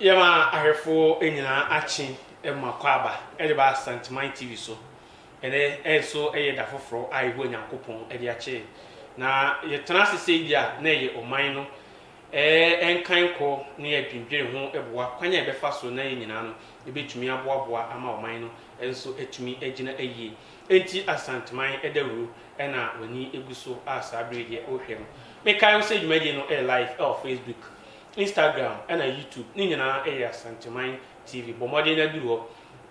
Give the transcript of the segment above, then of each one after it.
Yɛma ahwɛfo nyinaa akye mu akwaaba de ba Asantman TV so. Ɛnnɛ nso yɛ da foforo a Yehowa Nyankopɔn de akyɛ yɛn. Na yɛtena ase sɛ ebia na ɛyɛ ɔman no nkan kɔ ne adwindwene ho boa, kwan a yɛbɛfa so na yɛn nyinaa no yebetumi aboaboa ama ɔman no nso atumi agyina yie. Enti Asantman dawuru na w'ani gu so a saa bere yi deɛ wohwɛ no. Mekae wo sɛ dwumadi no yɛ live wɔ Facebook Instagram ɛna YouTube ne nyinaa ɛyɛ Asanteman TV bɔ mmɔden na duru hɔ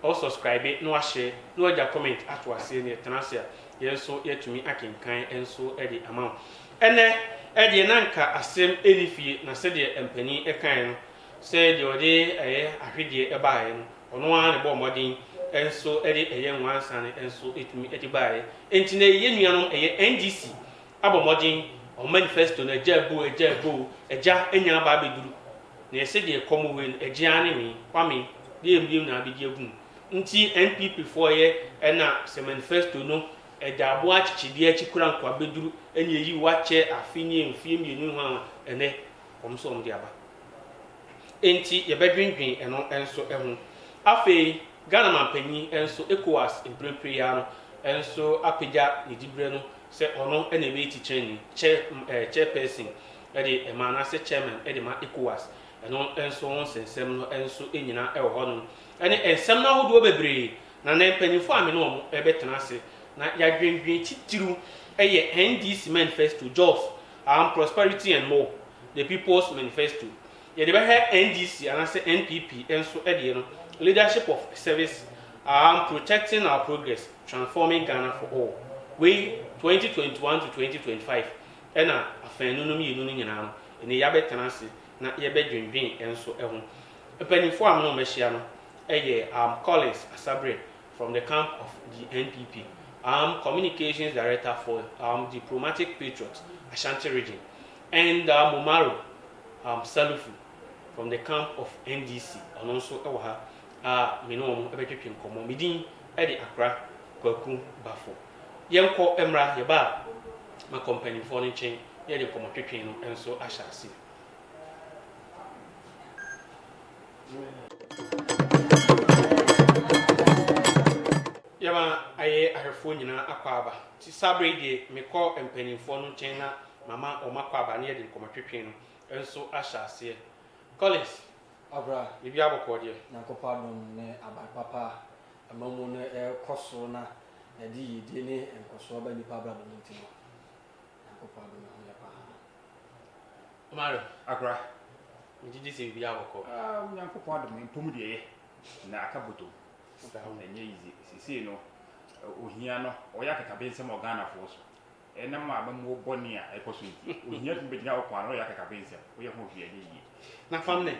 ɔ subscribe na wa share na wa gya comment ato aseɛ na yɛ tena ase a yɛn nso yɛ tumi akenkan nso de ama wo ɛnɛ ɛdeɛ na nka asɛm ɛni fie na sɛdeɛ mpanin ɛkaeɛ no sɛ deɛ ɔde ɛyɛ ahwedeɛ ɛbaeɛ no ɔno ara na ɛbɔɔ mmɔden nso ɛde ɛyɛ nwansa no nso ɛtumi ɛde baeɛ ɛnti na yɛ nuanom ɛyɛ NDC abɔ mmɔden, wɔn manifesto no, agya aboo, agya aboo, agya anya aba abɛduru, na ɛse deɛ kɔm wɔ wei no, agye ara ne wee, Kwame, deɛ mmienu na abɛdi agu mu. Nti NPP foɔ yɛ ɛna sɛ manifesto no, ɛda aboa akyekyedeɛ akyi koraa nko abɛduru, ɛne ayi wo akyɛ afe nie, mfeɛ mmienu ne hwan, ɛnɛ wɔn se wɔn de aba. Nti yɛbɛdwendwen ɛno nso ho. Afei Ghana Manpanyin nso, Ecowas, mprempren yi ara no nso apagya ne diberɛ no sɛ ɔno na ɛbɛyɛ titrani, chair, eh, chairperson, de ma anaasɛ chairman de ma Ecowas, ɛno nso ho nsɛnsɛm no nso nyina wɔ hɔnom. Ɛne nsɛm no ahodoɔ bebree na nnɛ mpanyimfoɔ a me ne wɔn rebɛtena ase na yɛadwendwen titiriw yɛ NDC manifesto, Jobs, and Prosperity and More, The People's Manifesto. Yɛde bɛhwɛ NDC anaasɛ NPP nso deɛ no, Leadership of service aah protecting our progress transforming Ghana for all. Wei 2021 to 2025 ɛna afanu no mmienu no nyinaa no ɛnɛ yɛabɛtena ase na yɛbɛdwendwen nso ho. Mpanimfoɔ a me ne wɔn ahyia no yɛ aah Collins Asaberɛ from the camp of the NPP, aah Communications Director for aah Diplomatic Patriot Ashanti Region, Endah Momaro Amsalufu from the camp of NDC, ɔno nso wɔ ha a me ne wɔn bɛtwetwe nkɔmmɔ. Me din de Akora Kwaku Bafo. Yɛnkɔ mmra, yɛba a, makɔ mpanimfoɔ no nkyɛn na yɛde nkɔmmɔtwetwe no nso ahyɛ aseɛ. Yɛma ayɛ ahwɛfoɔ nyinaa akwaaba, nti saa berɛ yi deɛ mekɔ mpanimfoɔ no nkyɛn na Mama wɔn akwaaba ne yɛde nkɔmɔtwetwe no nso ahyɛ aseɛ. Collins, Ɔbra, biribiara bɔkɔɔ deɛ? Nyankopɔn adom ne aban papa a amamuo no rekɔ soro na yɛde yiedie ne nkɔsoɔ aba nnipa abrabɔ mu nti no, Nyankopɔn adom ɛho yɛ paa. Omari, Akora, megye di sɛ biribiara bɔkɔɔ. Ah, Nyankopɔn adom no, mpom deɛ yɛ na aka botom. Ɛnyɛ easy, seisei no ohia no ɔyɛ akakabensɛm wɔ Ghanafoɔ so. Ɛnam amammuo bɔne a ɛrekɔ so nti, ohia tumi bɛgyina wo kwan ano na ɔyɛ akakabensɛm. Woyɛ ho hwee anyɛ yie. Na pam ne.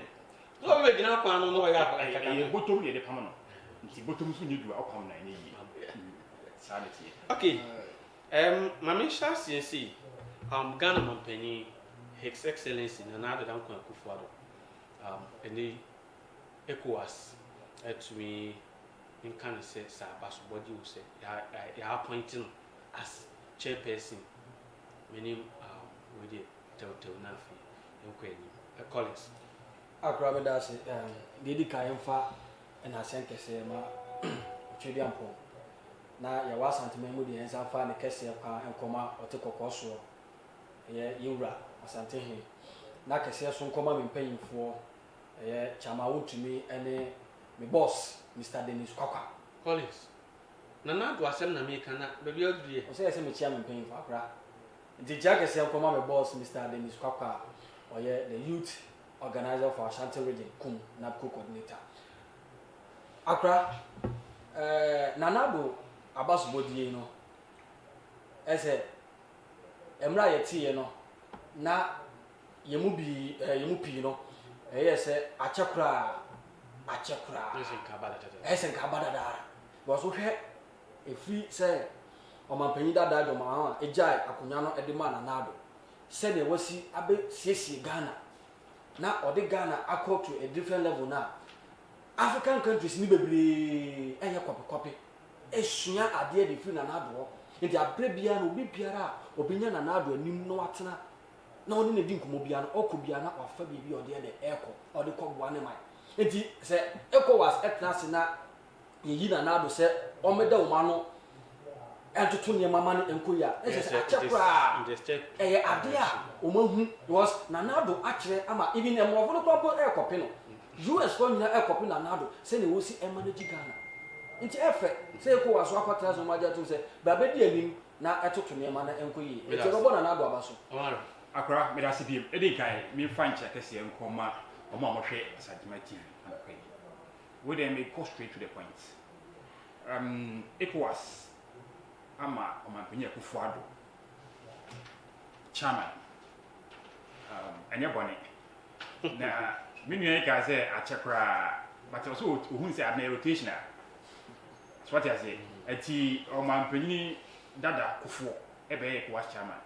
Sɛ obi bɛgyina wo kwan ano na ɔyɛ akakabensɛm. Ɛyɛ bɔtɔm na yɛde pam no. Nti bɔtɔm nso nyɛ du a wopam no a ɛnyɛ yie. Saa na ɛteɛ. Ok, ɛɛm, ma me nhyɛ aseɛ sei. Um, Ghana Manpanin, His Excellency Nana Addo Dankwa Akufo-Addo, um, ɛnɛ yi, ECOWAS atumi nka no sɛ sɛ abasobɔdeɛ o sɛ yɛ, yɛ appoint no. as chairperson menim um wei deɛ tɛwtɛw no afei yɛnkɔ anim eh, Collins. Akora meda ase um, deɛ ɛdi kan yɛmfa ɛna asɛm kɛseɛ ma Otwedeampɔn na yɛwɔ Asanteman mu deɛ yɛnsa mfa ne kɛseɛ paa nkɔma ɔte kɔkɔɔ soɔ ɛyɛ yɛn wura Asantehene na kɛseɛ so nkɔma me mpanyinfoɔ ɛyɛ Kyama Wontumi ɛne me boss Mister Dennis Kwakwa. Collins, Nana Addo asɛm na meka na baabi a ɔduru yɛ. Ɔsɛ yɛ sɛ mekyia me mpanyimfo akora nti nkyia kɛseɛ nkɔma me boss Mister Dennis Kwakwa a ɔyɛ the youth organiser for Ashanti region kum NABCO coordinator akora eh, Nana Addo abasobɔdie yi no ɛsɛ mmerɛ a yɛteeɛ no na Yɛn mu bi, eh, yɛn mu pii no, ɛyɛ sɛ akyɛ koraa, akyɛ koraa. Ɛyɛ sɛ nka aba dada dada. Ɛyɛ sɛ nka aba dada dada. Because wohwɛ efiri sɛ ɔmanpanyin dada John Mahama egyae akonnwa no de maa Nana Addo sɛdeɛ wasi abɛsiesie Ghana na ɔde Ghana akɔ to a different level no a, African countries no bebree ɛyɛ kɔpekɔpe esua adeɛ de firi Nana Addo hɔ. Nti aberɛ biara no obi biara a ɔbɛnya Nana Addo anim na watena na ɔne no di nkɔmmɔ biara no, ɔkɔ biara na wafa biribi a ɔde ɛdɛ ɛrekɔ a ɔde kɔboa ne man. Enti sɛ ECOWAS tena ase na yɛyi Nana Addo sɛ ɔmmɛda wɔn ano ntoto nneɛma ma no nkɔ yie a, na kyerɛ sɛ akyɛ koraa ɛyɛ adeɛ a wɔahu because Nana Addo akyerɛ ama even mmorɔfo no koraa mpo ɛrekɔpe no. US foɔ nyinaa ɛrekɔpe Nana Addo sɛdeɛ wɔsi ɛmanage Ghana. Nti ɛfɛ sɛ ECOWAS akɔtena ase na wɔagye atom sɛ bra bɛdi anim na ɛtoto nneɛma na ɛnkɔ yie. Enti ɔbɛbɔ na n'ado aba so. Akwadaa, meda ase bio. Ɛdi nkan, memfa nkyia kɛseɛ nkɔ ma wɔn a wɔhwɛ Asadema TV anɔpa yi. Wei deɛ mekɔ straight to the point. Um, ECOWAS ama ɔmanpanyin Akufo Addo, chairman, um, ɛnyɛ bɔne. Na me nua yi kaa sɛ akyɛ koraa but ɔsɛ ohun sɛ adena yɛ rotational so wate aseɛ ɛti ɔmanpanyin dada kofoɔ ɛbɛyɛ ecowas chairman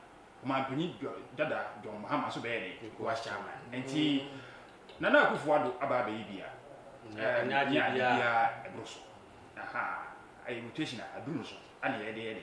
ɔmanpanyin dada John Mahama nso bɛyɛ ne ecowas chairman ɛnti nana akufoɔ ado aba abɛyɛ bia ɛnyɛ ade bia ɛboro so aha ɛyɛ rotational aduru no so ɛna yɛde yɛ ne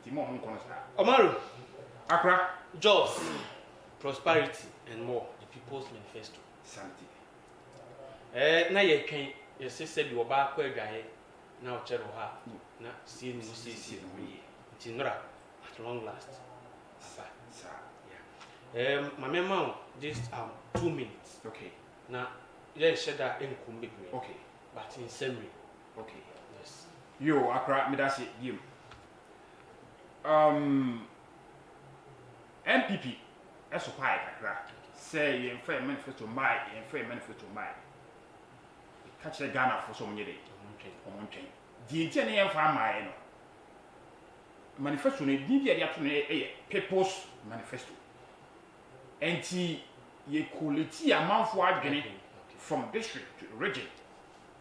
Nti mo ɔmo nkɔ no saa. Omaro. Akra. Jobs, prosperity and more the people's manifesto. Santie. Ɛɛ na yɛ twɛn yɛ se sɛbi ɔbaa kɔ adwaeɛ na ɔkyɛre wɔ ha a na sie ne ho siesie ne ho yie nti nora at long last aba saa yeah ɛɛ ma me ma wo just um two minutes okay na yɛnhyɛ da nkum bebree okay but in summary Ok yes yoo akora medase biem um, NPP ɛso pae kakra sɛ yɛmfa yɛn manifesto mmae yɛmfa yɛn manifesto mmae ka kyerɛ Ghanafoɔ sɛ ɔmo nyɛ dɛ ɔmo ntwɛn deɛ nti a ne yɛmfa mmae no manifesto no din bi a yɛde ato no yɛ people's manifesto ɛnti yɛ koleti amanfoɔ adwene from district to region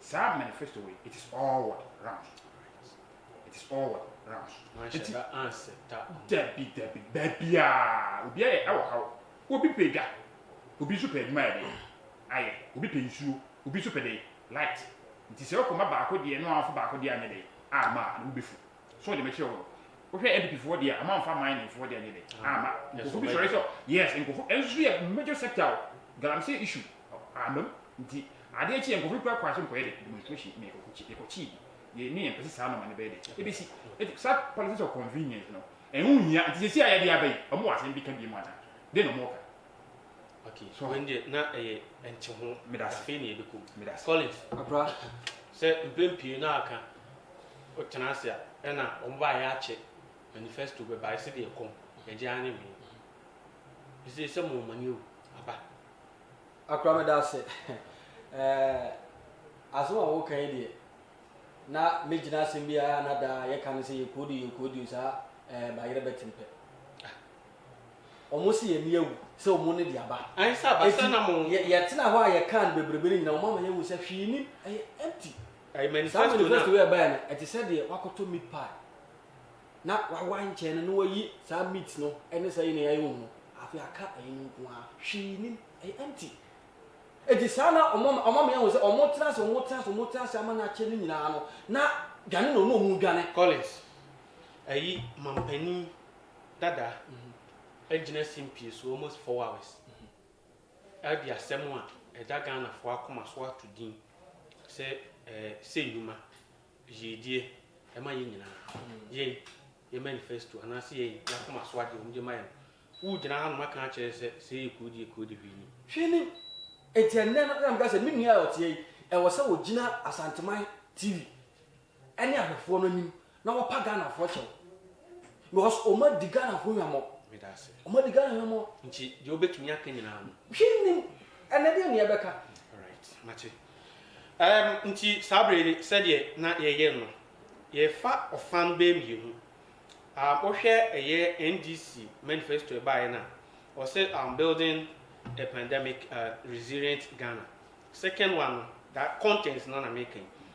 saa manifesto wei it is all what round it is all what round nti dabi dabi baabia obi ayɛ ɛwɔ ha obi pɛ dwa obi nso pɛ adwuma yɛ dɛ ayɛ obi pɛ nsuo obi nso pɛ dɛ light nti sɛ ɔkɔma baako deɛ na wɔafo baako deɛ anyɛ dɛ ama na wobɛfu So ɔde bɛkyerɛ hɔ. Wohwɛ NDP foɔ deɛ a, ɔmo amfa mining foɔ deɛ anyɛ dɛ amma. Nkorɔfo bi sɔre sɛ yes nkorɔfo ɛno nso yɛ major sector o, galamsey issue amma mu. Nti adeɛ kye a nkorɔfo bi koraa kɔɔ ase kɔyɛ dɛ demonstration na yɛkɔkyee bi. Yɛn ne yɛmpɛ sɛ saa nnoɔma no bɛyɛ dɛ ɛbɛsi. Ɛnti saa politics of convenience no ɛho nhia. Nti seesei a yɛde aba yi ɔmo wɔ asɛm bi ka biom anaa? Dɛn na ɔmo wɔ ka? Okay, so when the na ɛyɛ ɛnkyɛ ho. Medasa. Afei na yɛbɛkɔ mu. Medasa. Collins. Abra. Sɛ mpɛn pii na aka wotena ase a ɛna wɔn ba yɛ akyɛ manifesto bɛba ɛsɛ deɛ kɔm ɛgye ara ne mmiri. Ɛsɛ sɛ mo mani o aba. Akora meda ase. Ɛɛ asɛm a wɔka yi deɛ na megyina asɛm biara na daa yɛka no sɛ yɛkuo de yɛkuo de saa ɛɛ bayerɛ bɛte mpɛ. Wɔn se yɛn ani awu sɛ wɔn nne de aba. Ae sɛ abasa na mo. Enti yɛ tenaa hɔ a yɛ kaa no bebrebe no nyinaa wɔn ama yɛ hu sɛ hwee nnim, ɛyɛ empty. Ae manifesto no a. Saa manifesto wei a ɛbaeɛ no, ɛte sɛ deɛ wɔakɔtɔ meat pie na wɔawa nkyɛn no na wɔayi saa meat no ne saa yini a yɛayɛ wɔ mu no, afei aka ɛyi no nko ara, hwee nnim, ɛyɛ empty. Enti saa na wɔn wɔn ama yɛ hu sɛ wɔn tena ase, wɔn tena ase, wɔn tena ase ama no akyɛ no nyinaa no, na dwane na wɔn a wɔn dwane. Collins, ayi, mampanin dada agyina sin pii so, almost four hours, adi asɛm a ɛda Ghanafoɔ akoma so ato din sɛ ɛɛ sɛ nnwuma, yiedie, ɛma yɛn nyinaa, yɛn, yɛn manifesto anaasɛ yɛn yɛn akoma so adeɛ wɔn de ma yɛn. Wogyina hanom aka akyerɛ sɛ sɛ yɛyɛ kuro deɛ kuro deɛ hwee nim. Hwee nim. Enti ɛnnɛ no na meka sɛ me nua a ɔteɛ yi, ɛwɔ sɛ ɔgyina Asanteman TV ɛne ahwɛfoɔ no anim na wɔpa Ghanafoɔ kyɛw because wɔn adi Ghanafoɔ hwammɔ wɔn adi Ghana hwammɔ nti deɛ wobɛtumi aka nyinaa no hwɛ nim ɛnɛ deɛ ne yɛbɛka alright mate um, nti saa berɛ ni sɛdeɛ na yɛyɛ no yɛfa ɔfa no bɛɛ mmienu um, wohwɛ ɛyɛ ndc manifesto ɛbaeɛ no a ɔsɛ um, building a pandemic uh, resilient ghana second one that contents no na meka yi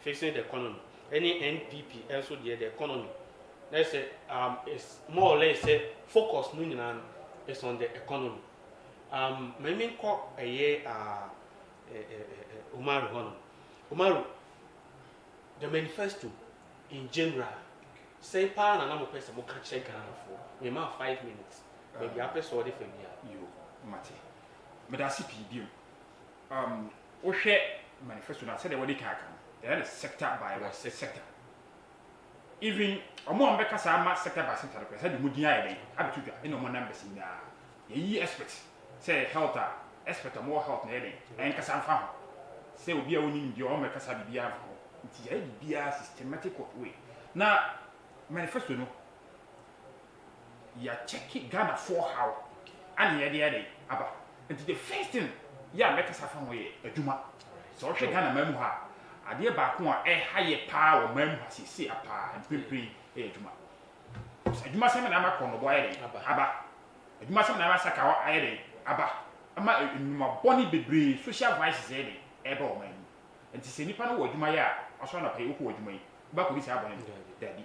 Fixing the economy ɛne NPP nso deɛ the economy na sɛ um, is more or less sɛ focus no nyinaa no is on the economy um, ma me nkɔ ɛyɛ uh, eh, eh, eh, eh, Umaru hɔ no Umaru the manifesto in general sɛn paa na na mo pɛ sɛ mo ka kyerɛ Ghanafoɔ mema five minutes baabi apɛ sɛ ɔde fa bia. yo mate medase pii biom Um, wohwɛ manifesto na sɛdeɛ wɔde kan aka no, ɛyɛ no sector by what sector. Even ɔmo a ɔmbɛka saa ama sector by sector no kora, sɛ de ɔmo din ayɛ dɛn abɛto dwa, ɛna ɔmo numbers nyinaa. Yɛyi expert sɛ health a, expert a ɔmo wɔ health na ɛyɛ dɛn, ɛnkasa mfa ho. Sɛ obi a ɔnni nimdeɛ ɔmmɛkasa biribiara mfa ho. Nti yɛayɛ biribiara systematic way. Na manifesto no, Yɛakyɛke Ghanafoɔ haw ana yɛde ayɛ dɛn aba. Nti the first thing yɛ a mɛkasa afa ho yɛ adwuma. Sɛ wohwɛ Ghana man mu ha a, adeɛ baako a ɛha yɛ pa ara wɔ man mu ha seesei a pa ara mprempren yɛ adwuma. Because adwuma sɛm na ama korɔnɔbɔ ayɛ dɛn aba. Adwuma sɛm na ama sakawa ayɛ dɛn aba. Ama nnwuma bɔne bebree, social vices ɛyɛ dɛn ɛreba wɔ man mu. Nti sɛ nipa no wɔ adwuma yɛ a, wasɔre anɔpa yi, wokɔ w'adwuma yi, wobɛakɔdi saa bɔne no? Daabi.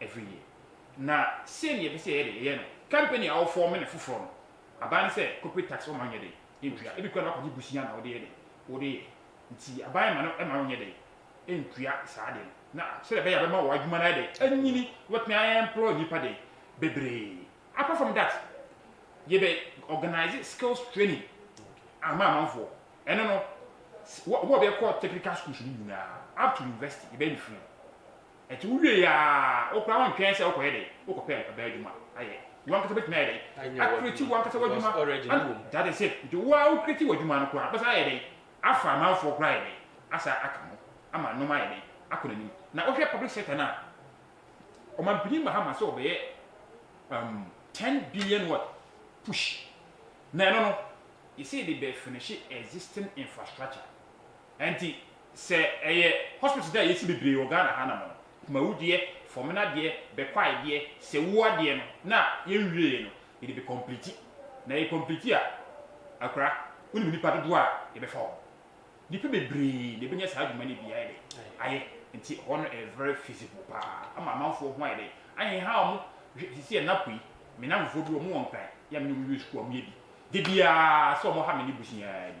every year na sei na yɛpɛ sɛ yɛyɛ de yɛyɛ no company a ɔfɔɔ me no foforɔ no aban no sɛ corporate tax ɔma nyɛ dɛ ntua ebi kura no akɔgye busia na ɔde yɛ dɛ ɔde yɛ nti aban ma no ɛma no nyɛ dɛ ntua saa de no na sɛ ɛbɛyɛ abɛma wɔ adwuma no ayɛ dɛ anyini wɔtumi ayɛ employ nipa dɛ bebree apart from that yɛbɛ organize skills training ama amanfoɔ ɛno no wɔbɛkɔ technical schools no nyinaa up to university yɛbɛyɛ no free Nti wo wie yɛ aa wo koraa wontwɛn sɛ wokɔyɛ dɛn wokɔ pɛ bɛɛ adwuma ayɛ nti wankasa bɛtumi ayɛ dɛn akreti wankasa wadwuma that is it nti wo aa wo kreti wadwuma no koraa bɛsa ayɛ dɛn afa amanfoɔ koraa ayɛ dɛn asa aka ho ama nnoɔma ayɛ dɛn akɔ nanim na wo hwɛ public sector no a ɔmampanin mahama sɛ ɔbɛyɛ um, 10 billion what push na ɛno no yɛsɛ yɛde bɛfinihye existing infrastructure Ɛnti sɛ ɛyɛ hospital dɛ a yɛsi bebree wɔ Ghana ha nom no, Kumawu deɛ, Fɔmena deɛ, Bɛkwae deɛ, Sewua deɛ no na yɛnwieɛ no yɛde bɛ kɔmpliti. Na yɛ kɔmpliti a, Akura, wonim nnipa dodoɔ a yɛbɛfa wɔn? Nnipa bebree na ɛbɛnya saa adwuma no bi ayɛ dɛ ayɛ. Nti ɛhɔ no ɛyɛ very feasible paa ama amanfoɔ ho ayɛ dɛ aheha wɔn. Hwɛ sisi a Napue yi, me nnamfofoɔ bi wɔn wɔ Nkran, yɛ a me ne wɔn wie sukuu a wɔyɛ bi. Da biara sɛ wɔha me ne busuaa bi.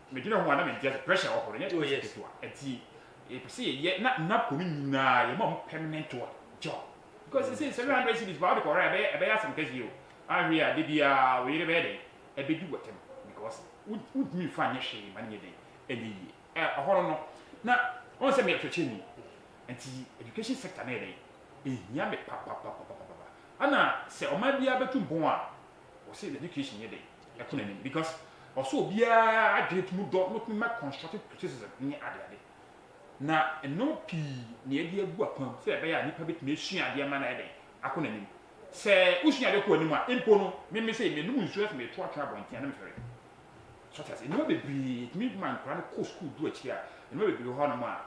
Medwene ho a na mente ase, pressure wɔ hɔ no nyɛ pressure ketewa, nti yɛpɛ sɛ yɛyɛ na NABCO no nyinaa yɛma wɔn permanent wa job because sesei seven hundred cedis paa wode kɔhɔɛ a ɛbɛyɛ asɛm kɛseɛ o, anhwɛ a da biara wo yere bɛyɛ dɛn ɛbɛdi w'atam because wontumi mfa nyɛ hwee mma no nyɛ dɛn ɛnyɛ yie ɛhɔ no no na wɔn sɛ meyɛ ɔkyerɛkyerɛni nti education sector no yɛ dɛn ɛhia me papapapapapa ɛna sɛ ɔman biara bɛtu mpɔn a wɔsɛ education yɛ dɛn Ɛto n'anim because ɔsɛ obiara adwene tumi dɔ na ɔtumi ma constructive criticism ne adeade. Na nnoɔma pii na yɛde agu akwan mu sɛ ɛbɛyɛ a nnipa bɛtumi asua adeɛ ama no ayɛ dɛn? Akɔ n'anim. Sɛ wosua adeɛ kɔ w'anim a, mpo no, me me sei, menom nsuo na sɛ mereto atwene abɔnten a na mefɛre. So ate aseɛ? Nnoɔma bebree tumi ma nkwadaa no kɔ sukuu du akyire a nnoɔma bebree wɔ hɔnom a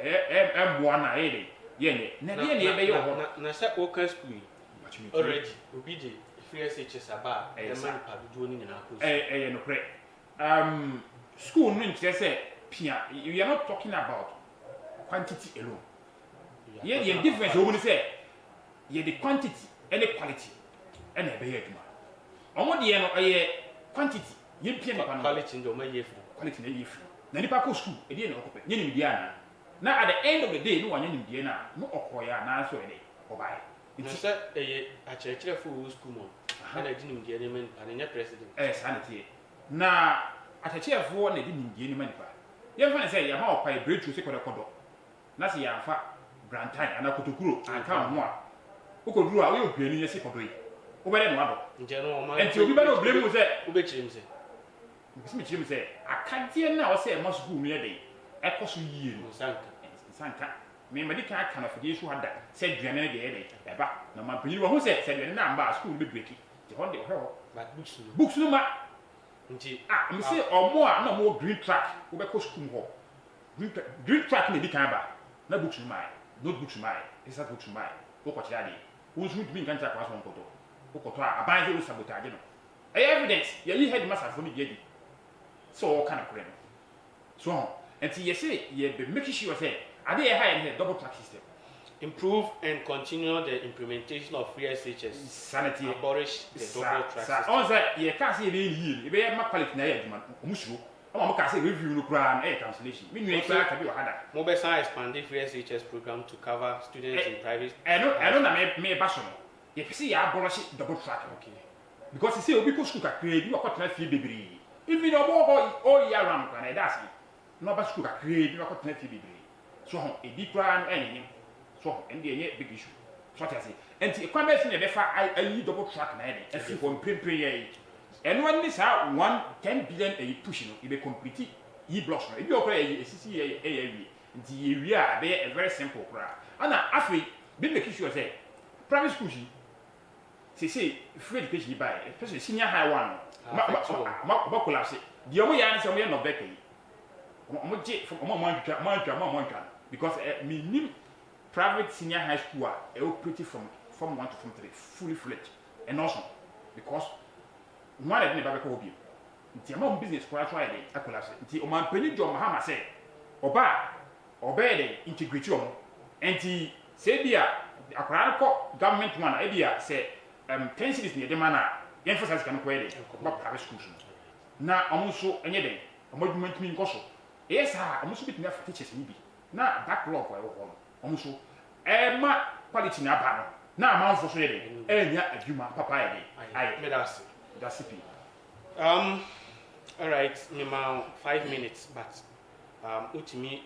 ɛboa na ɛyɛ dɛ yɛnyɛ na ɛdeɛn na yɛbɛyɛ wɔ hɔ no. Na sɛ woka sukuu yi already obi de firi SHS aba a ɛma nipa dodoɔ no nyinaa kɔ sukuu. Ɛyɛ nokorɛ um sukuu no nkyerɛ sɛ pia we are not talking about quantity alone yɛn yɛn difference wɔ mu ne sɛ yɛde quantity ɛne quality ɛna ɛbɛyɛ adwuma wɔn deɛ no ɛyɛ quantity. Yɛn pie papa no. Quality deɛ ɔmo ayi afiri. Quality na ayi afiri. Na nipa kɔ sukuu, ɛdeɛn na ɔkɔpɛ? Nyɛ nimdeɛ anaa? Na at the end of the day no wanyɛ nimdeɛ no a, no ɔkɔɔeɛ anaa nso ɔyɛ dɛn? Ɔbaeɛ. Nti. Na sɛ ɛyɛ akyerɛkyerɛfoɔ a ɛwɔ sukuu mu a, ɛna ɛde nimdeɛ no ma nipa no, nyɛ president. Ɛyɛ saa na ɛteɛ. Na akyerɛkyerɛfoɔ na ɛde nimdeɛ no ma nipa. Yɛmfa no sɛ yɛama wo kwan, breakthrough, sɛ kɔ na kɔdɔ. na sɛ yɛamfa brantan anaa kotokuro anka wo ho a, wokɔduru hɔ a, woyɛ oduani na ɛse kɔdɔ yi, wobɛdɛ na woadɔ. Ɛnti obi ba na ɔblame wo sɛ. Mepɛ sɛ mekyerɛ mu sɛ, akadeɛ no a ɔsɛ ɛma sukuu no yɛ dɛn, ɛkɔ so yie no, nsa nka. Me, madi kan aka no afidie yi so ha da sɛ aduane no deɛ ɛyɛ dɛn, ɛba. Na ɔmanpanin, wahu sɛ, sɛ aduane no amma a, sukuu no bɛbreki. Nti ɛhɔ no deɛ, wɔhwɛ hɔ. Books no mma. Ah, mese wɔn a na wɔwɔ green track, wobɛkɔ sukuu mu hɔ. Green track green track na edi kan aba, na books no mae, note books mae, exercise books mae, wokɔkyerɛ ade, wo nso wontumi nka nkyerɛ akwadaa sɛ ɔnkɔtɔ, wokɔtɔ a aban he resabotage no, ɛyɛ evidence, yɛayi headmasterfoɔ no bi adi sɛ wɔɔka nokorɛ no, so ho? Nti yɛse yɛbɛ make sure sɛ ade a ɛha yɛ no yɛ double track system. Improve and continue the implementation of free SHS, Saa na ɛteɛ, abolish the saa, double track saa, ɔhu system. sɛ yɛkaa sɛ yɛbɛyɛ no yie no, yɛbɛyɛ ma quality na ayɛ adwuma no, wɔn suro, Ɔma mo kaa sɛ review no koraa no yɛ cancellation. Me nua yi koraa ka bi wɔ ha da. Mo bɛ san expande free SHS program to cover students in private high school. Ɛno ɛno na me ba so no. Yɛ pɛ sɛ yɛ abɔlɔhye double track no. Because sisei obi kɔ sukuu kakraa bi na wakɔ tena fie bebree. Even ɔmo wɔ hɔ all year round koraa na yɛ da ase. Na waba sukuu kakraa bi na wakɔ tena fie bebree. So ho? Ebi koraa no ɛnyenyem. So ho? Ɛno deɛ ɛnyɛ big issue. So ɔte ase? Ɛnti kwan bɛn so na ɛbɛfa ayi double track na ɛde afi hɔ mprempren yɛ yi? Ɛno ɛne ne saa one ten billion ɛyi push no yɛbɛ complete yi blocks no. Ebi wɔ hɔ koraa yɛyi ɛsisi yɛ ɛyɛ awie. Nti yɛ wie a ɛbɛyɛ very simple koraa. Ɛna afei me make sure sɛ private schools yi. Seesei free education yi bae, especially senior high one no, ɔma ɔma ɔma ɔma ɔma collapse. Deɛ wɔn yɛ ara ne sɛ wɔn yɛ nɔbɛka yi, wɔn wɔn gye from wɔn a wɔn antwitwa, wɔn antwa, wɔn a wɔn antwa no, because eh, me nim private senior high school a ɛ operate from form one to form three fully fledged, ɛnɔɔso, because wɔn ara na ɛde ne ba bɛkɔ hɔ bio. Nti ɛma wɔn business koraa so ayɛ den, a collapse. Nti ɔmanpanyin John Mahama sɛ, ɔba a Ɔbɛyɛ dɛn integrate wɔn? Ɛnti sɛ ebia akwadaa no kɔ government one a, ebia sɛ ɛm ten cedis na yɛde ma no a, yɛn fa saa sika no nkɔyɛ dɛn? Nkɔma private schools no. Na wɔn nso nyɛ dɛn? Wɔn adwuma ntumi nkɔ so. Ɛyɛ saa a, wɔn nso betumi afa teachers no bi. Na backlog a ɛwɔ hɔ no, wɔn nso ɛma quality no aba no, na amanfoɔ nso yɛ dɛn? Ɛrenya adwuma papa ayɛ dɛn? Ayɛ. Meda ase. Meda ase pii. Um, alright, mema wo five minutes but um, wotumi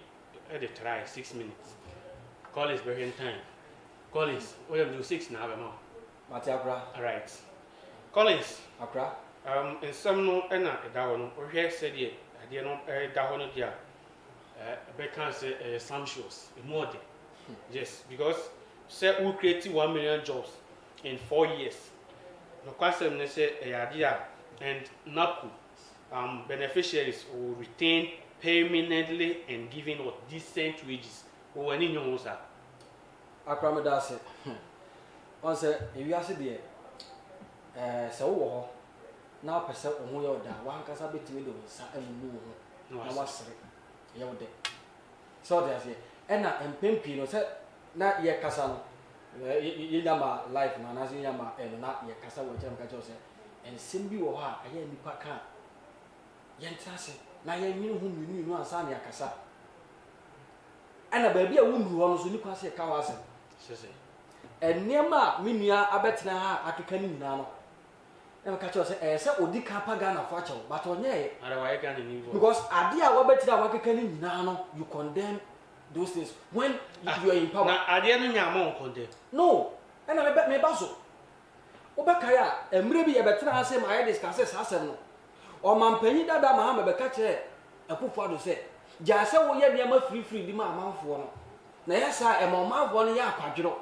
de trae six minutes. Collins bɛhwɛ n time. Collins, woyɛ mdo six na abɛma wo. Mate akora. Alright. Collins. Akora. Um, nsɛm no ɛna ɛda hɔ no, wohwɛ sɛdeɛ adeɛ no ɛda hɔ no deɛ a, ɛbɛka sɛ ɛyɛ sumptuous, ɛmu ɔde. Hmm. Yes, because sɛ wo create one million jobs in four years, nokwasɛm ne sɛ ɛyɛ adeɛ a, and NAPCO um, beneficiaries will retain permanently and given what decent wages. Wɔ w'ani nye ho saa? Akora meda ase. Hmm. Ɔn sɛ ewiase deɛ ɛɛ eh, sɛ wowɔ hɔ na wopɛ sɛ wo ho yɛ wo dan wankasa bɛtumi de wo nsa amumu wo ho na wasere ɛyɛ wo dɛ sɛ ɔde aseɛ ɛna mpɛn pii no sɛ na yɛkasa no yɛnya ma life no anaasɛ yɛnya ma ɛno na yɛkasa wɔ akyerɛ mka kyerɛ sɛ Nsɛm bi wɔ hɔ a, ɛyɛ a nnipa ka a, yɛntra ase na yɛnnwene ho mmienu mmienu ansa na yɛakasa. Ɛna baabi a wonnuru hɔ no nso, nnipa sɛ yɛka hɔ asɛm. Kyerɛ sɛ, nneɛma a me nua abɛtena ha a akeka no nyinaa no, na meka kyerɛ sɛ ɛyɛ sɛ ɔdi kan pa Ghanafo akyɛ wo, but ɔnyɛeɛ. Ara wayɛ Ghanani fo. Because adeɛ a wabɛtiri a wakeka no nyinaa no, you condemn those things when you are in power. Na adeɛ no nyɛ a, mo nkɔndɛm. No, ɛna meba so. Wobɛkae a, mmerɛ bi yɛbɛtenaa ha sɛ Maimonides kaa sɛ saa asɛm no. Ɔmampanyin dada Mahama bɛka kyerɛɛ Akufo-Addo sɛ, Gyae sɛ woyɛ nneɛma firifiri de ma amanfoɔ no, na yɛ saa a, ɛma ɔmanfoɔ no yɛ akwadworɔ.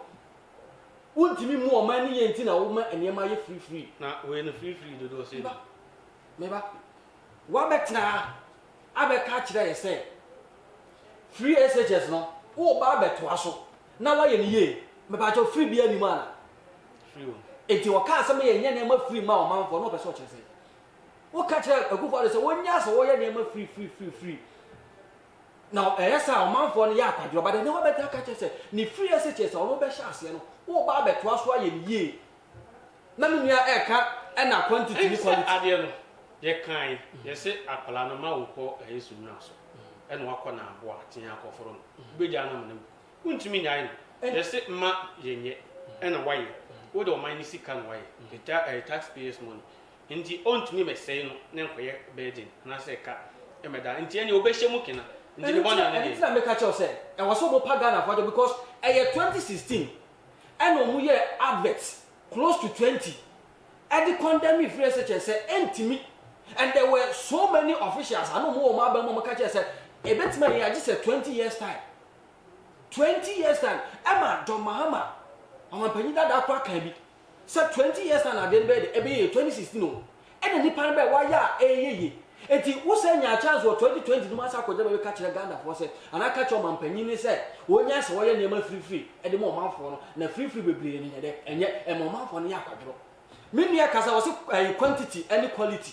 Wontumi mmu ɔman no yie nti na woma nneɛma yɛ firifiri. Na wei no firifiri dodoɔ sɛn ni? Me ba, woabɛtena ha abɛka akyerɛ yɛ sɛ free SHS no, woreba abɛtoa so. Na wayɛ no yie. Mepatwɔ free biaa nni mu ana? Free wɔ mu. Enti ɔka asɛm no yɛ nyɛ nneɛma free mma ɔmanfoɔ na ɔpɛ sɛ ɔkyerɛ sɛn? Wo ka kyerɛ Akuffo Addo sɛ wɔnya sɛ wɔyɛ nneɛma free free free free na ɛyɛ sɛ a ɔmanfoɔ no yɛ akwadworɔ but ɛnɛ wabɛtena ka kyerɛ sɛ ne free ɛsɛ kyerɛ sɛ ɔno bɛhyɛ aseɛ no wo ba abɛtoa so ayɛ no yie na me nua ɛka ɛna quantity ne quality. Ɛnsɛ adeɛ no yɛ kan yɛ se akwadaa no ma wo kɔ ɛyɛ sunyina so ɛna wakɔ na aboa tea akɔ foro no wobɛ gya anam na gu wontumi nyae no yɛ se ma yɛ nyɛ ɛna wayɛ wo de ɔman ne sika na wayɛ the ta ɛyɛ tax payers money nti ɔntumi mɛ sɛe no ne nkɔ yɛ burden anaasɛ ɛka ɛmɛ da nti ɛne wobɛ hyɛ mu kena nti ne bɔne ne deɛ ɛne tina meka kyɛw sɛ ɛwɔ so mo pa Ghana fo adwo because ɛyɛ 2016 ɛna ɔmo yɛɛ adverts close to twenty ɛde condemn me free sɛ kyerɛ sɛ ɛntumi and there were so many officials ana ɔmo wɔ ɔmo aban mu ɔmo ka kyerɛ sɛ ɛbɛtumi ayɛ agye sɛ twenty years time twenty years time ɛma John Mahama ɔmampanyin dada akora kan bi sɛ twenty years time na adeɛ no bɛyɛ de ɛbɛyɛ yɛ twenty sixteen o Ɛna nipa no bɛɛ wayɛ a ɛɛyɛ yie. Nti wo sɛ nyaa chance wɔ 2020 no mu asa akɔgya baabi ka kyerɛ Ghana foɔ sɛ anaa ka kyerɛ ɔmanpanyin no sɛ ɔnya sɛ ɔyɛ nneɛma firifiri ɛde ma ɔmanfoɔ no na firifiri bebree no nyɛ dɛ ɛnyɛ ɛma ɔmanfoɔ no yɛ akwadworɔ. Me nua kasa ɔse ɛɛ quantity ɛne quality.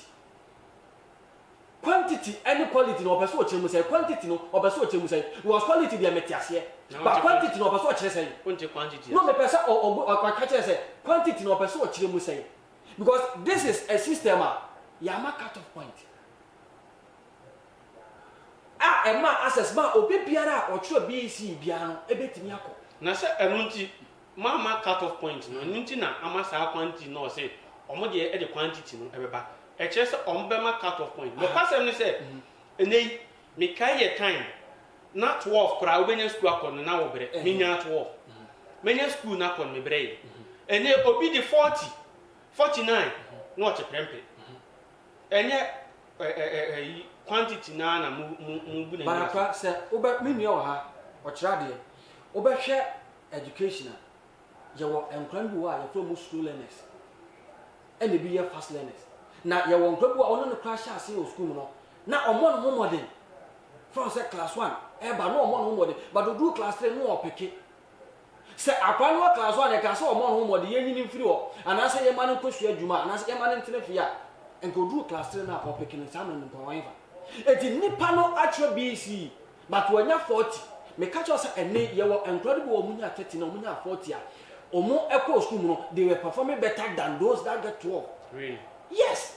Quantity ɛne quality no ɔpɛ sɛ ɔkyerɛ mu sɛn? Quantity no ɔpɛ sɛ ɔkyerɛ mu sɛn? Because quality deɛ mete aseɛ but quantity no ɔpɛ sɛ ɔkyerɛ sɛn? No mepɛ sɛ ɔ ɔ ɔka kyerɛ sɛ quantity no ɔpɛ sɛ ɔkyerɛ mu sɛn? Because this is a system a yɛama cut off point a ɛma access ma obi biara a ɔtwerɛ BECE biara no ɛbɛtumi akɔ. Na sɛ ɛno nti moamma cut off point no, ɛno nti na ama saa quantity no a ɔse wɔn deɛ ɛde quantity no ɛbɛba. Ɛkyerɛ sɛ wɔbɛma cut off point. Nokwasɛm ne sɛ, ɛnnɛ yi, Mekae yɛ time na twelve koraa wobɛnya sukuu akɔ no na wobrɛ, menyaa twelve manya sukuu no akɔ no mebrɛeɛ, ɛnnɛ obi de forty, forty nine na ɔte prɛmpɛ, ɛnyɛ ɛ ɛ ɛ ɛyi quantity no ara na mo mo mo bu n'ani Baara ase. paa, sɛ wobɛ, me nua wɔ ha, ɔkyerɛ adeɛ, wobɛhwɛ education a, Yɛwɔ nkora no bi wɔ hɔ a yɛfrɛ ɔmo slow learners ɛna ebi yɛ fast learners. Na yɛwɔ nkora bi wɔ hɔ a ɔno no koraa hyɛ aseɛ wɔ sukuu mu no na ɔmɔ ne ho mmɔden. Frɛ sɛ class one ɛɛba no ɔmɔ ne ho mmɔden but ɔduru class three no ɔpeke. Sɛ akora no wɔ class one ɛka sɛ ɔmɔ ne ho mmɔden yɛnyi no mfiri hɔ anaasɛ yɛma no nkɔ sua adwuma anaasɛ yɛma no ntena fie a nka ɔduru class three no a ɔpeke no saa mmerɛ no nka ɔyɛ fa. Eti nipa no akyerɛ BC But wanya forty meka kyerɛ wo sɛ ɛnne yɛwɔ nkura no bi wɔ ɔmo nyaa thirty na ɔmo nyaa forty a ɔmo ɛkɔɔ school mu no they were performing better than those that get twelve Really? yes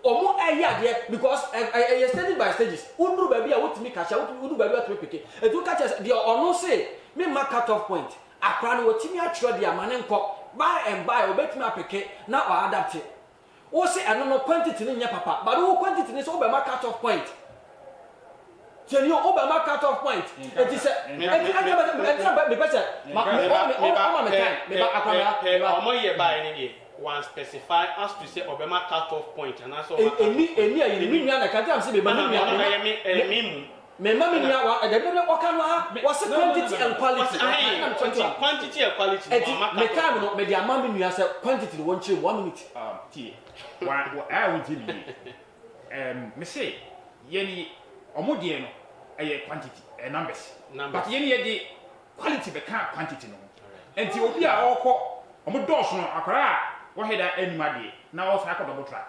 ɔmo ɛyɛ adeɛ because ɛ ɛ ɛyɛ stages by stages woduru baabi a wotumi kahyɛ wotumi woduru baabi a wotumi peke etu woka kyerɛ sɛ deɛ ɔno se me ma cut off point akora no wɔtumi atwerɛ deɛ ama ne nkɔ by and by ɔbɛtumi apeke na ɔadapte Wo se ɛno no quantity no nyɛ papa but wo quantity no sɛ wobɛma cut off point tiɛnio wobɛma cut off point eti sɛ eti ɛnna bɛ ɛnna bɛ mepɛ sɛ ma me ɔma me ɔma me time meba akɔmra meba ɔmo yɛ baa ɛne deɛ wan specify as to sɛ ɔbɛma cut off point anaasɛ ɔma cut off point ɛni ɛni ɛyi me nua na ɛka ɛnna sɛ meba me nua meba ɛyɛ me ɛyɛ me mu Me ma me nua wa ɛdɛ ɛdɛ ɔka no aha wɔsi quantity and quality nti quantity and quality nti me time no me de ama me nua sɛ quantity no wɔn kyerɛ mu one minute. Um, tie wa wa ɛyɛ a wɔn tie mi yie ɛm me se yɛn ni wɔn deɛ no ɛyɛ quantity ɛyɛ numbers but yɛn ni yɛ de quality bɛ ka quantity no ho nti obi a ɔkɔ wɔn dɔɔso no akwaraa a wɔhɛ da anim adeɛ na ɔsan akɔ double track.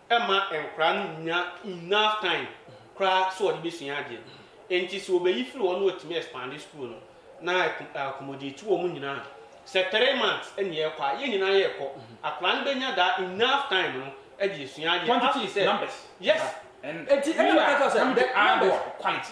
ɛmma nkwadaa no nnya enough time koraa sɛ wɔde bɛsua adeɛ. Enti sɛ wɔbɛyi firi hɔ na wɔtumi expande school no na accommodate wɔn nyinaa a, sɛ three months na yɛrekɔ a, yɛn nyinaa yɛrekɔ. Akwadaa no bɛnya that enough time no de asua adeɛ. Quantity is numbers. Yes. Enti ɛna meka kyerɛ wo sɛ numbers. Quality.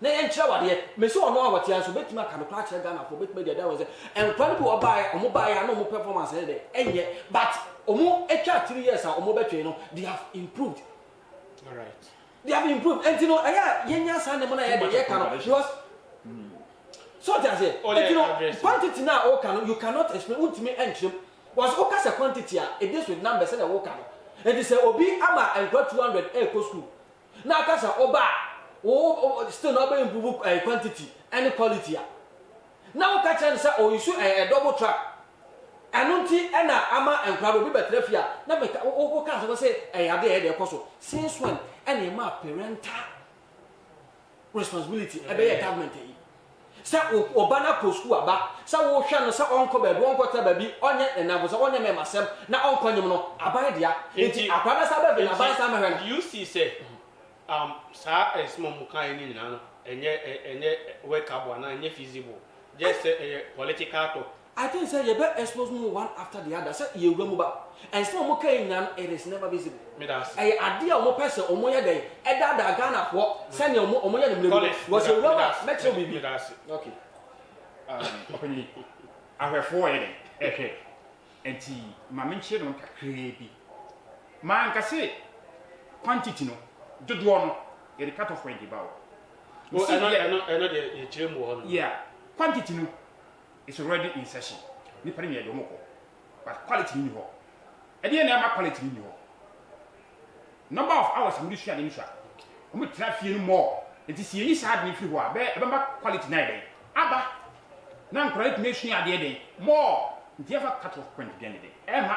Na yɛnkyerɛ wo adeɛ, mese ɔno a ɔteaɛ nso bɛtumi aka nokorɛ akyerɛ Ghanafoɔ, bɛtumi adi adanseɛ sɛ nkwadaa no bi wɔ hɔ baeɛ, wɔn baeɛ a na wɔn performance nyɛ dɛ, ɛnyɛ, but wɔn twa three years a wɔn bɛtwee no, they have improved. Alright. They have improved. Enti no, ɛyɛ a yɛnya saa nneɛma no a yɛ de yɛka no, because so ɔte aseɛ, enti no, quantity no a woka no, you cannot explain, wontumi nkyerɛm, because woka sɛ quantity a, it deals with numbers, sɛdeɛ woka no, enti sɛ obi ama nkwadaa 200 ɛrekɔ school, na aka sɛ woba a wo wo still na wobɛ improve ɛɛ quantity ɛne quality a na woka kyerɛ no sɛ oh nsu ɛɛ ɛɛ double trap ɛno nti ɛna ama nkora no obi bɛtena fie a na meka wo wo ka sɛ wɔ sɛ ɛyɛ adeɛ ɛyɛ deɛ ɛkɔ so since when ɛna ɛma parental responsibility ɛbɛyɛ government yi sɛ ɔba no akɔ sukuu aba sɛ wohwɛ no sɛ ɔnkɔ baabi ɔnkɔtra baabi ɔnyɛ nnamfo sɛ ɔnyɛ mɛmasɛm na ɔnkɔ nyem no aban dea nti akora no sa bɛhwɛ no aban sa mɛhwɛ no. do you see sɛ um, saa nsɛm a wɔn kaeɛ no nyinaa no ɛnyɛ ɛnyɛ workable anaa ɛnyɛ feasible Just sɛ ɛyɛ political talk. I think sɛ yɛbɛ expose no one after the other sɛ yɛwura mu ba. Nsɛm a wɔkaeɛ nyinaa no it is never visible. Meda ase. Ɛyɛ adeɛ a wɔpɛ sɛ wɔyɛ dɛn ɛdaadaa Ghanafoɔ sɛdeɛ wɔn wɔyɛ no mmerɛ mu no. Collins, Because meda, yɛwura mu meda a ase, mɛkyerɛ wo meda, biribi. meda ase. Okay. Um, ɔpanyin, ahwɛfoɔ ɛyɛ dɛn ɛhwɛ, ɛnti ma menkyerɛ no nkakraa bi. Manka se quantity no, dodoɔ no, yɛde cut off point ba o. You see, ɛno ɛno ɛno deɛ yɛkyerɛ mu wɔ hɔ no. Yeah, quantity no is already in session. Nipa no nyɛ de ɔmo kɔ, but quality no ni hɔ. Ɛdeɛ na ɛma quality no ni hɔ. Number of hours a wɔde sua ade no sua. Wɔn tena fie no more. Nti sɛ yɛyi saa ade no firi hɔ a, bɛyɛ ɛbɛma quality no ayɛ dɛn? Aba. Na nkwadaa no tumi asua adeɛ dɛn? More. Nti yɛfa cut off point deɛ ne dɛn? Ɛma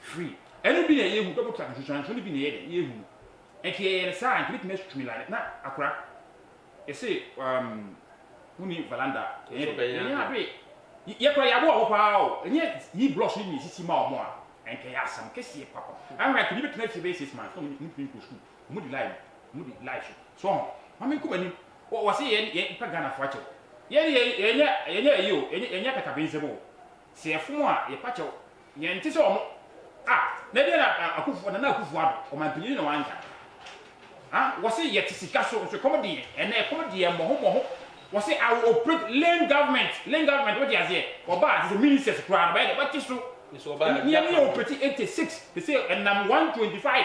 Free. Ɛno bi na ɛyɛ hu, double track nsunsuanso no bi na ɛyɛ dɛ, ɛyɛ hu no. Ɛnti ɛyɛ no saa a, nti bɛtumi asutumi lane, na akora, yɛse umm huni valanda, ɛnyɛ dɛ, yɛnyɛ adoe, yɛ kora yɛaboa wɔ paa o, ɛnyɛ yi blocks yi na yɛsisi ma wɔn a, ɛnka ɛyɛ asɛm kɛseɛ papa, ɛhɔ a nka bi bɛtena fie bɛyɛ six months na wɔn ntumi nkɔ sukuu, wɔn di line mu, wɔn di line so, so wɔho, ma me nkɔ m'anim, wɔ wɔse yɛn, yɛn, pa Ghanafoɔ akyɛw, yɛn deɛ yɛnyɛ, yɛnyɛ ɛyi o, yɛnyɛ akakabensɛm o. Sɛ yɛfom a yɛpa kyɛw, yɛnte sɛ wɔn a, na deɛ na Akufoɔ, Nana Akufoɔ Addo, ɔmanpanin na wanka? Ha, wɔse yɛte sika so, nso ɛkɔm de yɛn, ɛnɛ ɛkɔm de yɛn mmɔho mmɔho, wɔse I will operate lean government, lean government, wote aseɛ, wɔba a te sɛ ministers koraa no, bɛyɛ dɛ, bɛte so, nneɛma yɛ operate 86, te sɛ ɛnam 125.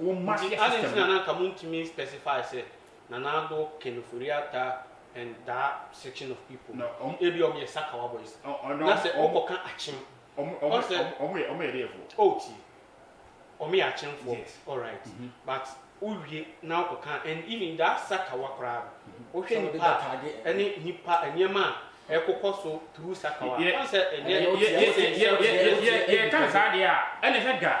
Wo mma yɛ system no. Nti adɛn nti na na anka montumi nspecify sɛ Nana Addo, Ken Ofori-Atta and that section of people no? Ebia wɔn yɛ Sakawa boys. Na sɛ wokɔka Akyem, wɔn sɛ. Wɔn yɛ ɛdeɛfoɔ? Oh tie, wɔn yɛ Akyemfoɔ, alright, but wowie na wokɔka and even that Sakawa koraa no, wohwɛ nnipa a ɛne nnipa nneɛma a ɛkokɔ so through Sakawa a, wɔn sɛ ɛnyɛ. Yɛka no saa deɛ a, ɛna ɛhwɛ da.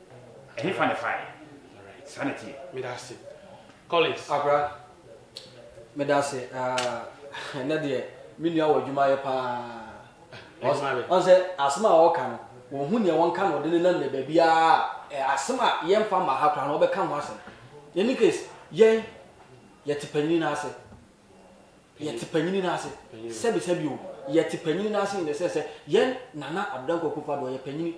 Ɛhefa na ɛfae? Alright, saa na ɛteɛ. Meda ase. Collins. Abra. Meda ase. Ah, ɛnɛ deɛ, me nua wɔ adwuma yɛ paa. Adwuma bɛ. Ɔn sɛ, asɛm a ɔreka no, wɔhu nea wɔnka na ɔde nenam yɛ baabiara a, eh, asɛm a yɛmfa mma ha koraa no, ɔbɛka ho asɛm. In any case, yɛn, yɛte panyin no ase. yɛte panyini no ase sɛbesɛbe o yɛte panyini no ase in the sense sɛ yɛn nana abdan kwakufa do ɔyɛ panyini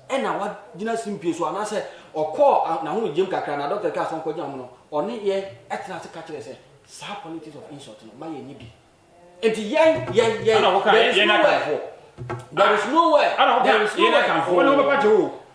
ɛna wagyina simpie so anaasɛ ɔkɔɔ n'ahomegyem kakra na dɔkta kaa sɛ ɔnkɔgyina hom no ɔne yɛn ɛtena ase ka kyerɛ sɛ saa politics of insult no ma yɛn nye bi nti yɛn yɛn yɛn there is nowhere there is nowhere there is nowhere wɔn ne wɔn bɛgye o.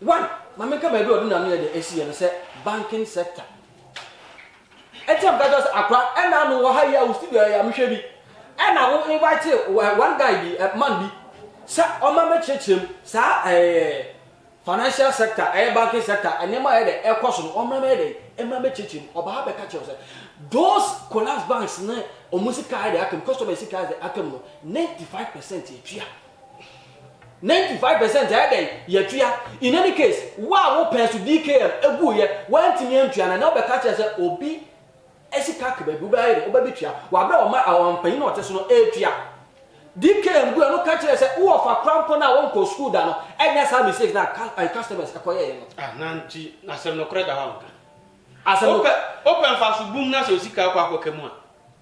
One, ma menka baabi a ɔde n'ano yɛ den asiyɛ no sɛ banking sector. Ɛnti a meka kyerɛ sɛ akora ɛna ano wɔ ha yi a wo studio ɛyɛ a mehwɛ bi ɛna wo invite one guy bi eh, man bi sɛ ɔma mɛkyerɛkyerɛ mu saa ɛɛ financial sector ɛyɛ banking sector nneɛma ɛyɛ dɛ ɛkɔ so no ɔma mɛyɛ dɛ ɛma mɛkyerɛkyerɛ mu ɔbaa bɛka kyerɛ sɛ those collapse banks ne ɔmo sika ɛyɛ dɛ aka mu customers sika ɛyɛ dɛ aka mu no ninety five percent etua. Ninety five percent ayɛ dɛn? Yɛatua. In any case, wo a wo pɛn so DKM guiɛ, woantumi antua no, ɛnɛ wobɛka kyerɛ sɛ obi sika ka baabi, wobɛyere, wobɛbɛtua. Wabrɛ wo ma awo mpanyin na ɔte so no retua. DKM guiɛ no ka kyerɛ sɛ wowɔ fa kora mpo no a wonkɔɔ sukuu da no, ɛnyɛ saa mistakes no a customers kɔyɛeɛ no. Ahna nti asɛm nokorɛ da hɔ a woka. Asɛm nokorɛ. Wopɛ mfaso bum na sɛ wo sika wokɔ akɔka mu a,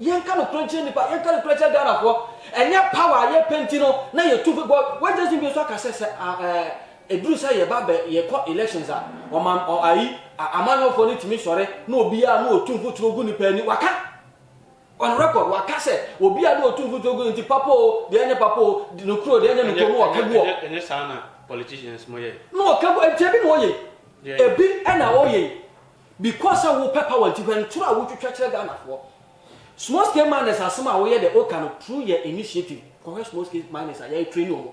Yɛnka nokorɛ nkyerɛ nnipa, yɛnka nokorɛ nkyerɛ Ghanafoɔ, ɛnyɛ power a yɛpɛ nti no na yɛtu fi bɔ, Wagya Zimbi nso aka sɛ sɛ ɛduru sɛ yɛba bɛ yɛkɔ elections a, ɔman ayi amanyɔfoɔ no tumi sɔre na obiara na ɔtu mfuturo gu nnipa ani, waka on record, waka sɛ obiara na ɔtu mfuturo gu nti papa o, deɛ ɛnyɛ papa o, nokorɛ o, deɛ ɛnyɛ nokorɛ o, na ɔka gu hɔ. Ɛnyɛ saa na politicians mo yɛ. Na ɔka gu, nti ɛbi na ɔyɛ yi, ɛbi na ɔyɛ yi. Because sɛ wo pɛ power nti hwɛ ntoro a wo twitwa kyerɛ Ghana foɔ. Small scale miners asem a wo yɛ dɛ oka no through yɛ initiative kɔ hwɛ small scale miners a yɛ traini ɔmo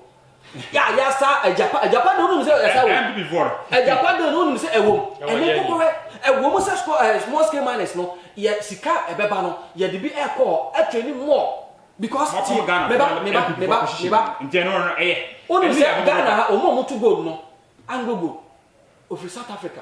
ya ya sa agyapa agyapa de wonim sɛ ɛsa wom agyapa de wonim sɛ ɛwom ɛne kokorɛ ɛwom sɛ eh, small scale miners no yɛ sika ɛbɛba no yɛ de bi ɛkɔ ɛtraini more because ti meba meba meba meba wonim sɛ Ghana ha ɔmo ɔmo to gold no anglo gold ofiri South Africa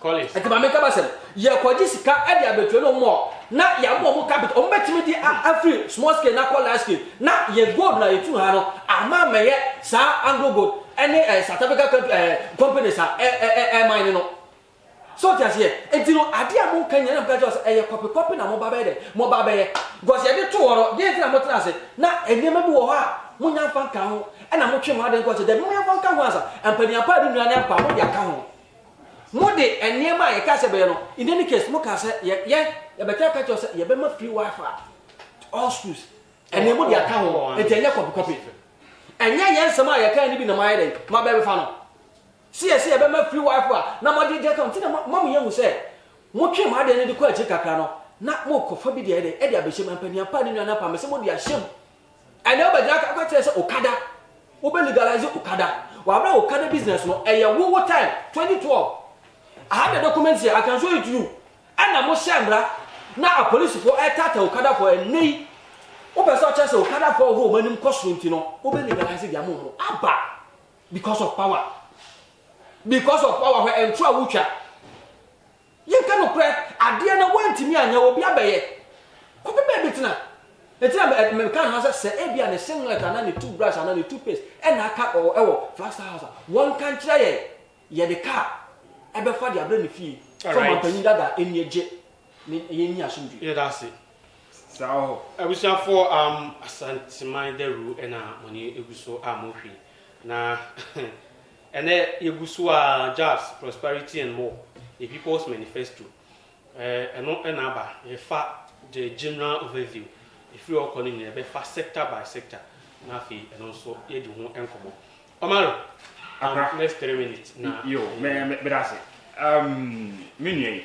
Collins. Nti maame nka basɛm. Yɛkɔgye sika de abetua ne ɔmo a na yɛaboa ɔmo capital. Ɔmo bɛtumi de a afiri small scale no akɔ large scale. Na yɛn gold no a yɛtu ha no amma ammɛyɛ saa Anglo Gold ne ɛɛ South Africa camp ɛɛ companies a ɛ ɛ ɛ ɛmine no. So wote aseɛ? Nti no adeɛ a monka nyinaa na meka kyerɛ wo sɛ ɛyɛ kɔpe kɔpe na moba bɛyɛ dɛ? Moba abɛyɛ. Because yɛde too hɔ no deɛ nti na motena ase na nneɛma bi wɔ hɔ a monya mfa nka ho ɛna motwe mo adwene kɔ sɛ dabi momma yɛmfa nka ho ansa. Mpanin apa a ɛde nnuane aba a mode aka ho. Mo de nneɛma a yɛkaa sɛ yɛbɛyɛ no, in any case, mo kaa sɛ yɛ yɛ yɛbɛtaa ka kyerɛ wo sɛ yɛbɛma free wifi to all schools. Ɛnneɛ mo de aka ho, nti ɛnyɛ kɔpi kɔpi. Ɛnyɛ yɛn nsɛm a yɛkaa no bi na mo ayɛ dɛn, mo abɛfa no. Sɛ yɛ sɛ yɛbɛma free wifi a, na mo de de aka ho, nti na ma ma mo yɛ hu sɛ mo twe mo adeɛ no de kɔ akyiri kakra no, na mo rekɔfa bi de ayɛ dɛn, de abɛhyɛ mu. Ampanin apa ne nuanom apa, mese mo de ahyɛ mu. Ɛnɛ wobɛgyina ka aka kyerɛ sɛ okada wobɛ legalize okada wɔ abere okada business no ɛyɛ wo wo time 2012 I have the documents here I can show it to you ɛna mo hyɛ mmra na apolisifoɔ ɛtata okadafoɔ ɛnɛ yi wopɛ sɛ ɔkyerɛ sɛ okadafoɔ ɔhoro wɔn anim kɔ soro nti no wobɛ legalize deɛ mo mo aba because of power because of power hwɛ ɛntoro a wotwa Yɛnka nokorɛ, adeɛ no woantumi anyɛ, obi abɛyɛ. Kɔpɛ baabi tena. Enti na me, meka ne ho sɛ, sɛ ebia ne singlet anaa ne toothbrush anaa ne toothpaste na aka wɔ, wɔ Flagstaff House a, wɔnka nkyerɛ yɛn, yɛde car bɛfa de abrɛ ne fie. Sɛ ɔmanpanyin dada a, ɛnneɛ gye ne yɛnni asomdwoe. Yɛda ase. Saa wɔ hɔ. Abusuafoɔ um Asanteman dawuro na mo ani gu so a mo hwi na Ɛnnɛ yɛgu so ara Jobs, Prosperity and More, A People's Manifesto. Ɛno na aba. Yɛfa the general overview, ɛfiri hɔ kɔ no nyinaa yɛbɛfa sector by sector na afei ɛno nso yɛadi ho nkɔmmɔ. Omaro, Accra. next three minutes na. Yo, me, me, meda ase. Um, me nua yi,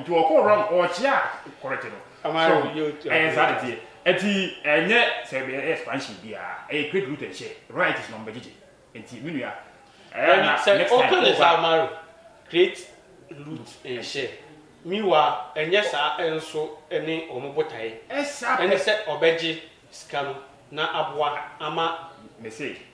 Nti ɔkɔ wrong ɔkyea correct no so ɛyɛ saa na ɛteɛ ɛti ɛnyɛ sɛ ɛyɛ expansion bia ɛyɛ create root and share right is number gyegye ɛti me nua ɛyɛ na sɛ ɔka ne saa amaro create root and share miwa ɛnyɛ saa ɛnso ɛne ɔmo botae ɛne sɛ ɔbɛgye sika no na aboa ama me se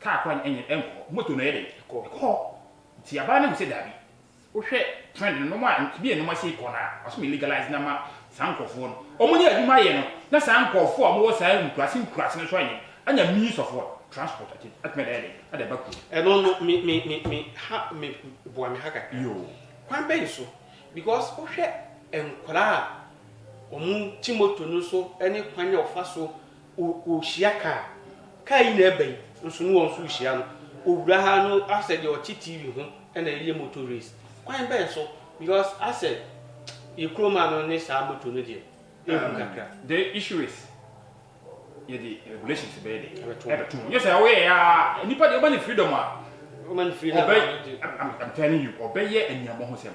Kaa kwan nyɛ ɛnkɔ hɔ. Moto no ɛyɛ dɛn? Ɛkɔ hɔ. Nti abaa no ahu sɛ daabi. Wohwɛ trend no nom a ebi ɛnom ase rekɔ no a, ɔse me legalize no ama saa nkorɔfoɔ no. Ɔmo nya adwuma yɛ no na saa nkorɔfoɔ a ɔmo wɔ saa nkuraase nkuraase no so ayɛ dɛn? Anya means of what? Transport ati atumi ɛde ayɛ dɛn? Ɛde aba kurom. Ɛno no me me me me ha me boa me ha kakra. Yoo. Kwan bɛn so? Because wohwɛ nkwadaa a ɔmo ti moto no so ɛne kwan a ɔfa so Ɔhyia kaa. Kaa yi na ɛba yi nso ne wɔn nso rehyia no. Ɔwura ha no asɛ deɛ ɔte TV ho na ɛreyɛ motor race. Kwan bɛn so? Because asɛ yɛn kurom ha no ne saa motor no deɛ ɛhu kakra. The issue is yɛde regulations bɛyɛ dɛ ɛbɛto ho. Nyɛ sɛ woyɛ yɛ ara. Nipa deɛ woma no freedom a, ɔbɛyɛ, I'm telling you, ɔbɛyɛ aniammɔhosɛm.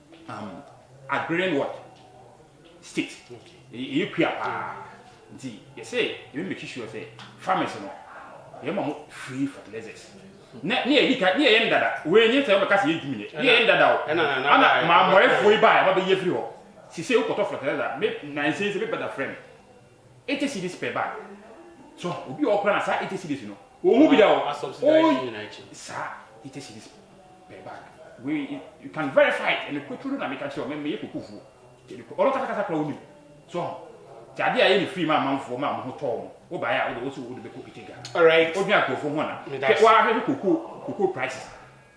Um, Agberen Ward state. Ɛyɛ kua paa. Nti yɛsɛ yɛbɛ make sure sɛ farmers no yɛ ma mo free fertilizers. Ne ne yɛdi ka ne yɛyɛ ndada. Wei nyɛ sɛ wɔbɛka sɛ yɛntumi nyɛ. Ne yɛyɛ ndada o. Ana maamɔɛfoɔ yi baa yɛ ma bɛyɛ firi hɔ. Sisei wokɔtɔ fertilizer me nansa yi sɛ me brada frɛ me. Eighty cedis per bag so obi a ɔkora na saa eighty cedis no ohu bi da o saa eighty cedis per bag we you can verify it ɛnɛ kweturu na meka kyerɛ ɔmɛ mɛ yɛ koko vuo ɔno kasa kasa kora onim so ho ti ade a yɛ ne free ma amanfoɔ ma ɔmo tɔɔ mo wo baayɛ a wode wo so wode bɛkɔ kitega odwin akorofo ho na wahwɛ ne koko koko prices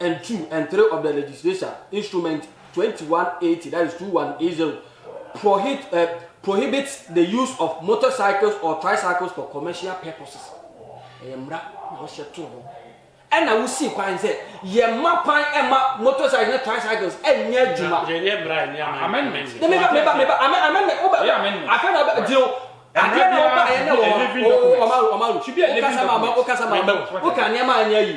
and two and three of the legislature instrument twenty one eighty that is two one eight zero prohibit uh, prohibits the use of motorcycles or tricycles for commercial purposes ɛyɛ mmara na wɔhyɛ to hɔ ɛna wosi kwan sɛ yɛma kwan ɛma motorcycle ne tricycles ɛnyɛ adwuma. yɛnyɛ mmara ɛnyɛ amendment. ne meba meba meba amendment wobɛ afei na ɔbɛ dino adeɛ na ɔba ɛyɛ na wɔ ɔma ɔma ɔkasa ma ɔma ɔkasa ma ɔma ɔka nneɛma a ɛnyɛ yi.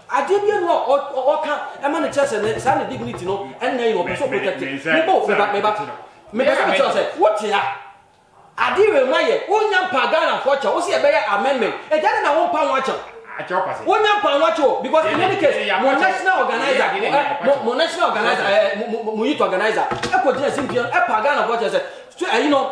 Adeɛ biara ni hɔ a ɔ ɔ ɔka ɛma no kyerɛ sɛ ne saa ne dignity no ɛnna yi na ɔpɛ sɛ ɔprotect. Me ba o, me ba, me ba. Me pɛ sɛ me kyerɛ wo sɛ, wo te ha. Adeɛ wei ma yɛ, wo nya mpa Ghanafoɔ kyɛw, wo se yɛ bɛyɛ amendment, enti adɛn na wo mpa ho akyɛw? Wo nya mpa ho akyɛw o, because in any case, mo national organizer, mo ɛ, mo, mo national organizer, ɛ, mo, mo, mo youth organizer, ɛkɔ gyina simpie no, ɛpa Ghanafoɔ kyɛw sɛ, so ɛyi no,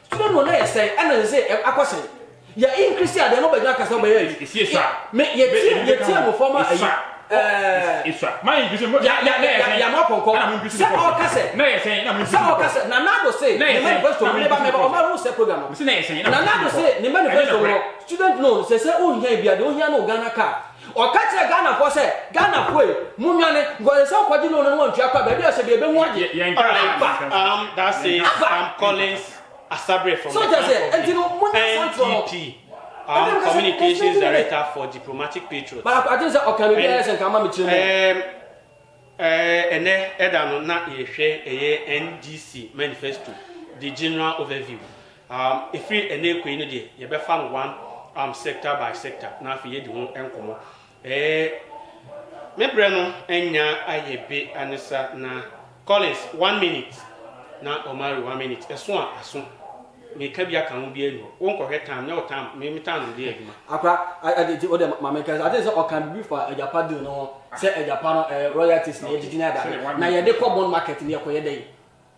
Turo no na yɛ sɛn ɛna ɛsɛ sɛ yɛ akɔ sɛn yɛ increase adeɛ no bɛgyina kasa bɛyɛ yi me yɛ tie yɛ tie mo fɔm a ɛyi ɛɛ yɛ ama pɔnkɔ sɛ ɔka sɛ sɛ ɔka sɛ na nado se ne manifesto no meba meba ɔma ho sɛ program no na nado se ne manifesto no student loan sɛ sɛ ohia bi ade ohia no Ghana car Ɔka kyerɛɛ Ghanafoɔ sɛ, Ghanafoɔ ei, monnwane, because ɛsɛ sɛ ɔkɔgye loan no na wantua kɔ a, baabi a ɔhyɛ biara ɛbɛhu ade. Alright pa, um that says um Collins Asabre from the camp of the NDP, um Communications Director for Diplomatic Patriots, and um eh, ɛnɛ ɛda no na yɛhwɛ ɛyɛ NDC manifesto, the general overview. Um, efiri ɛnɛ rekɔ yi no deɛ, yɛbɛfa no one um, sector by sector, na afei yɛadi ho nkɔmɔ. Ɛɛ, me brɛ no anya ayɛ be anesa na Collins, one minute, na Omari, one minute. Ɛso a, aso. Meka bi aka ho biara ni hɔ. Wonkɔhwɛ time, nyɛ wo time, me me time na mede yɛ adwuma. Akora, a- ade nti, wode ma menka sɛ, ade sɛ ɔka biribi fa agyapa deal no ho, sɛ agyapa no, eh, royalties na yɛde gyina dade, Sɛdeɛ na wɔn- yɛde kɔ bond market no, yɛkɔyɛ dɛn?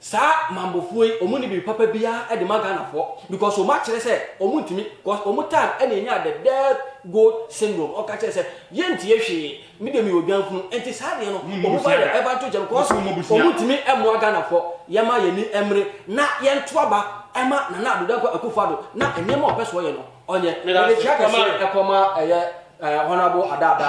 Saa mambofoɔ yi ɔmo nni biribi papa biara de ma Ghanafoɔ because ɔmo akyerɛ sɛ ɔmo ntumi cos ɔmo time ɛna ɛnyaa the death gold syndrome ɔka kyerɛ sɛ yɛntie hwee me deɛ meyɛ odwanfunu ɛnti saa deɛ no ɔmo ba yɛ ɛba nto gyam cos ɔmo ntumi mmoa Ghanafoɔ yɛma yɛni mmere na yɛnto aba ɛma Nana Addo Dankwa Akufo Addo na nneɛma ɔpɛ sɛ ɔyɛ no ɔnyɛ yɛde kyea kɛseɛ ɛkɔma ɛyɛ Honourable Ada Ada.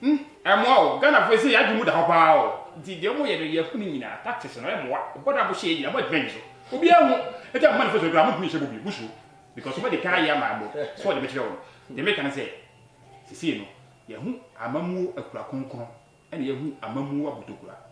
Hmm, ɛmmoa o. Ghanafoɔ yi sɛ yɛn adwene mu da hɔ paa o. Nti deɛ wɔyɛ no yɛhu no nyinaa, tactics no, ɛmmoa. Bɔ no a mohyɛɛ nyinaa, moantumi anyi so. Obiara hu. Ɛnti a mo manifesto no koraa montumi nhyɛ bɔ bio, mosuro. Because moadi kan ayɛ ama mo sɛ wɔde bɛkyerɛ wɔn. Deɛ meka ne sɛ, seesei no, yɛahu amammuo akura kronkron, ɛna yɛahu amammuo abotokura.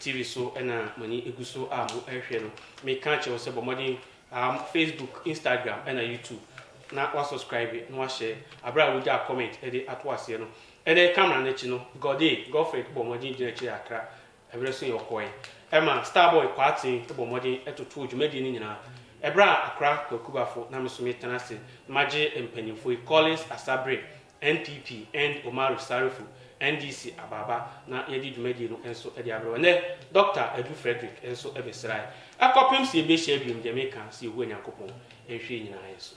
TV so na mo ani gu so a mo rehwɛ no, meka kyerɛ wo sɛ bɔ mmɔden um, Facebook, Instagram na YouTube na wa subscribe na wahyɛ abere a wogyaa comment de ato aseɛ no. Ɛnɛ camera no akyi no, Gode, Godfred bɔ mmɔden gyina akyire akra, ɛberɛ so yɛ ɔkɔɔe. Ɛma Starboy Kwaaten bɔ mmɔden totoo dwumadie no nyinaa. Ɛberɛ a akora Kwaku Bafo na me so metena ase magye mpanyinfoɔ yi, Collins Asabere NPP, Eng Umaru Sarifu, NDC, Ababa, na yɛde dwumadie no nso de abrɛ wo ɛnnɛ. Dɔkta Adu Fredrick nso bɛsrae. Ɛkɔpem sɛ yɛbɛhyia biom, deɛ meka ara sɛ Yehowa Nyankopɔn nhwɛ yɛn nyinaa yɛ so.